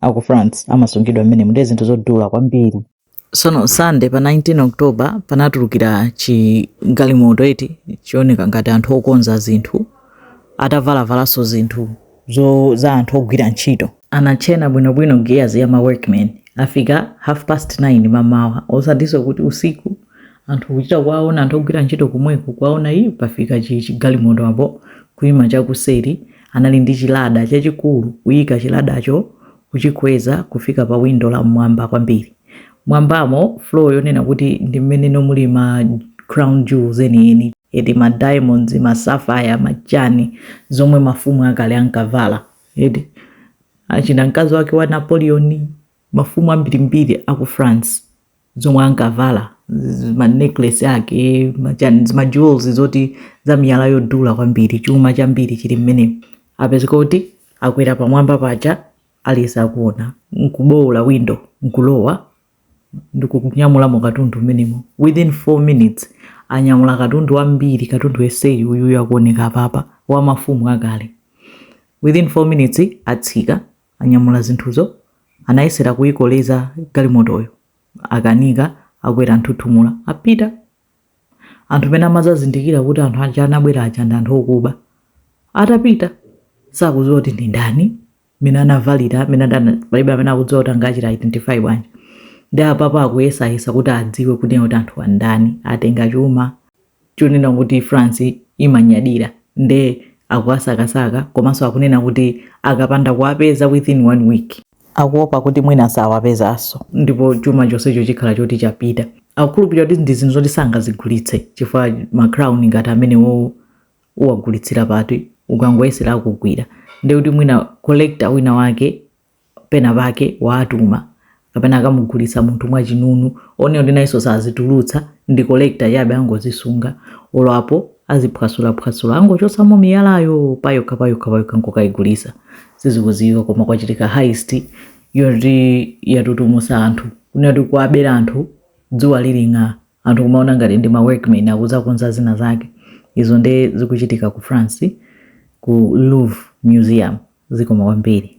a ku france amasungidwa mmenemu ndiye zinthu zodula kwambiri sono Sunday pa 19 october panatulukira chigalimoto eti chioneka ngati anthu okonza zinthu atavalavanso zinthu zo za anthu ogwira ntchito anachena bwinobwino gears ya ma workmen afika half past 9 mamawa osatinso kuti usiku anthu kuchita kuwaona anthu ogwira ntchito komweko kuwaona iyi pafika chi- chigalimoto apo kuima chakuseri Anali ndi chilada chachikulu, kuika chiladacho kuchikweza kufika pa windo la m'mwamba kwambiri. M'mwambamo, floor yonena kuti ndi mmenemo muli ma crown jewels enieni, eti ma diamonds, ma sapphire, ma chani, zomwe mafumu akale ankavala, eti achina mkazi wake wa Napoleon, mafumu ambirimbiri a ku France. zomwe ankavala ma necklace ake machani ma jewels zoti za miyala yodula kwambiri chuma chambiri chili mmenemo apezeka kuti akwera pamwamba paja aliyense akuona nkubowola window nkulowa ndikunyamulamo katundu mmenemo within 4 minutes anyamula katundu wambiri katundu onseyu uyuyu akuoneka apapa wa mafumu akale within 4 minutes atsika Anyamula zinthuzo, anayesera kuikoleza galimotoyo, akanika, akwera nthuthumula, apita. Anthu mmene amadzazindikira kuti anthu aja anabwera aja ndi anthu okuba. Atapita, sakudziwa kuti ndi ndani, mmene anavalira, mmene adana, palibe amene akudziwa kuti angachita identify bwanji. Nde apapa akuyesayesa kuti adziwe kuti kuti anthu andani, atenga chuma, chonena kuti France imanyadira nde akuwasakasaka komanso akunena kuti akapanda kuwapeza within one week akuopa kuti mwina asawapezanso ndipo chuma chonsecho chikhala choti chapita akukhulupirira kuti ndi zinthu zoti sangazigulitse chifukwa ma crown ngati amenewowo uwagulitsira pati ukangoyesera akugwira ndekuti mwina collector wina wake penapake waatuma kapena akamugulitsa munthu mwachinunu onena kuti nayenso sazitulutsa ndi collector chabe angozisunga olo apo aziphwasula angochotsamo miyalayo payokha payokha payokha nkukaigulitsa sizikudziwika koma kwachitika heist yoti yatutumusa anthu kunena kuti kuwabera anthu dzuwa lili nga anthu kumaona ngati ndi ma workmen akuzakonza zina zake izo nde zikuchitika ku france ku louvre museum zikoma kwambiri